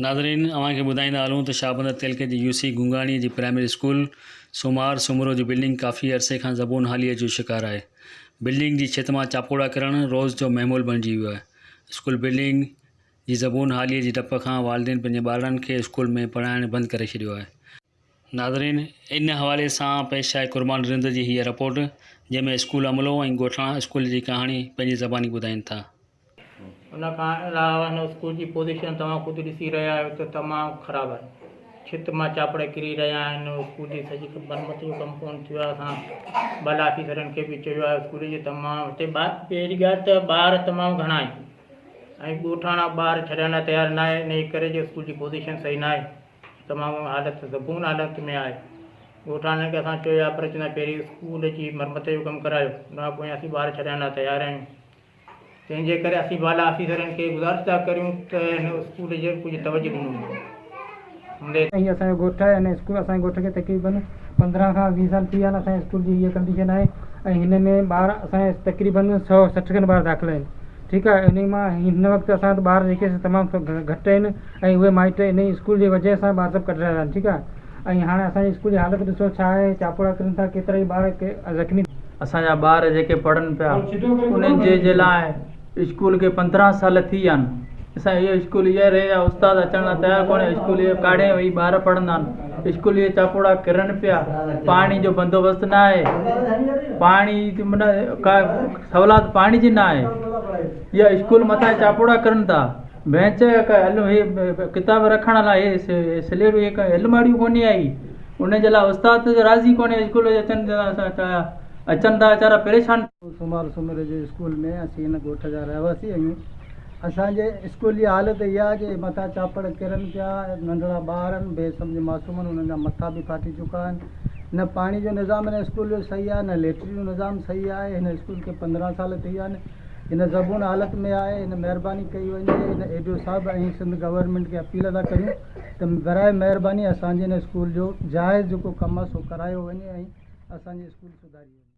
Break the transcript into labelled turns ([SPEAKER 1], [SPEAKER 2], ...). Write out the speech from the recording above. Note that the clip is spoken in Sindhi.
[SPEAKER 1] ناظرين اوهان کي ٻڌائيندا هلون ته شاهبندر تعلقي جي يو سي گونگاڻي جي پرائمري اسڪول سومار سومرو جي بلڊنگ ڪافي عرصي کان زبون حاليء جو شڪار آهي بلڊنگ جي ڇت مان چاپوڙا ڪرڻ روز جو معمول بڻجي ويو آهي اسڪول بلڊنگ جي زبون حاليء جي ڊپ کان والدين پنهنجي ٻارڙن کي اسڪول ۾ پڙهائڻ بند ڪري ڇڏيو آهي ناظرين! ان حوالي سان پيش آهي قربان رند جي هيء رپورٽ، جنهن ۾ اسڪول عملو ۽ ڳوٺاڻا اسڪول جي ڪهاڻي پنهنجي زباني ٻڌائين ٿا. ان
[SPEAKER 2] کان علاوه هن اسڪول جي پوزيشن توهان خود ڏسي رهيا آهيو ته تمام خراب آهي. ڇت مان چاپڙ ڪري رهيا آهن. اسڪول جي سڄي مرمت جو ڪم پورن ٿيو آهي. اسان ٻل آفيسرن کي به چيو آهي. اسڪول جي تمام هتي ٻار پهرين ڳالهه ته ٻار تمام گهڻا آهن ۽ ڳوٺاڻا ٻار ڇڏڻ لاء تيار ناهي، انهيء ڪري جو اسڪول جي پوزيشن صحيح ناهي. تمام حالت سڪون حالت ۾ آهي ڳوٺاڻن کي اسان چويو آهي پرچ نه پهرين اسڪول جي مرمت جو ڪم ڪرايو ان کان پوء اسين ٻار ڇڏڻ لاء تيار آهيون تنهن جي ڪري اسين بالا آفيسرن کي گذارش ٿا ڪريون ته هن اسڪول جي ڪجهه توجه ڏنو وڃي
[SPEAKER 3] هي اسان جو ڳوٺ آهي هن اسڪول اسان جي ڳوٺ کي تقريبن پندرهن کان ويهه سال ٿي ويا آهن اسان جي اسڪول جي هيء ڪنڊيشن آهي ۽ هن ۾ ٻار اسان جا تقريبن سؤ سٺ کن ٻار داخل آهن ٺيڪ آهي انهي مان هن وقت اسان وٽ ٻار جيڪي تمام گهٽ آهن ۽ اهي مائٽ انهي اسڪول جي وجهه سان به عذب ڪڍرايا آهن ٺيڪ آهي ۽ هاڻي اسان جي اسڪول جي حالت ڏسو ڇا آهي چاپوڙا ڪرين ٿا ڪيترائي ٻار زخمي اسان جا ٻار
[SPEAKER 4] جيڪي پڙهن پيا انهن جي جي لاء اسڪول کي پندرهن سال ٿي ويا آهن اسان اهي اسڪول اهي رهي ويا استاد اچڻ لاء تيار ڪونهي اسڪول اهي ڪاڙهين وئي ٻار پڙهندا آهن اسڪول اهي چاپوڙا ڪرن پيا پاڻي جو بندوبست نه آهي پاڻي من ڪا سولات پاڻي جي نه آهي يا اسڪول مٿان چاپوڙا ڪرن ٿا بينچ هڪ ڪتاب رکڻ لاء سليٽ هڪ الماڙيون ڪونهي آئي ان جي لاء استاد راضي ڪونهي اسڪول جي اچن جي لاء اچن ٿا ويچارا پريشان سومار سومري
[SPEAKER 3] جي اسڪول ۾ اسين هن ڳوٺ جا رهواسي آهيون اسان جي اسڪول جي حالت اها آهي جو مٿان چاپڙ ڪرن پيا ننڍڙا ٻار آهن بي سمجهه معصوم آهن انهن جا مٿا به ڦاٽي چڪا آهن نه پاڻي جو نظام هن اسڪول جو صحيح آهي نه ليٽرين جو نظام صحيح آهي هن اسڪول کي پندرهن سال ٿي ويا آهن ان زبون حالت ۾ آهي ان مهرباني ڪئي وڃي ان اي ڊي او صاحب ۽ سنڌ گورنمينٽ کي اپيل ادا ڪريون ته براهه مهرباني اسانجي ان اسڪول جو جائز جيڪو ڪم آهي سو ڪرايو وڃي ۽ اسانجي اسڪول سڌاري وڃي.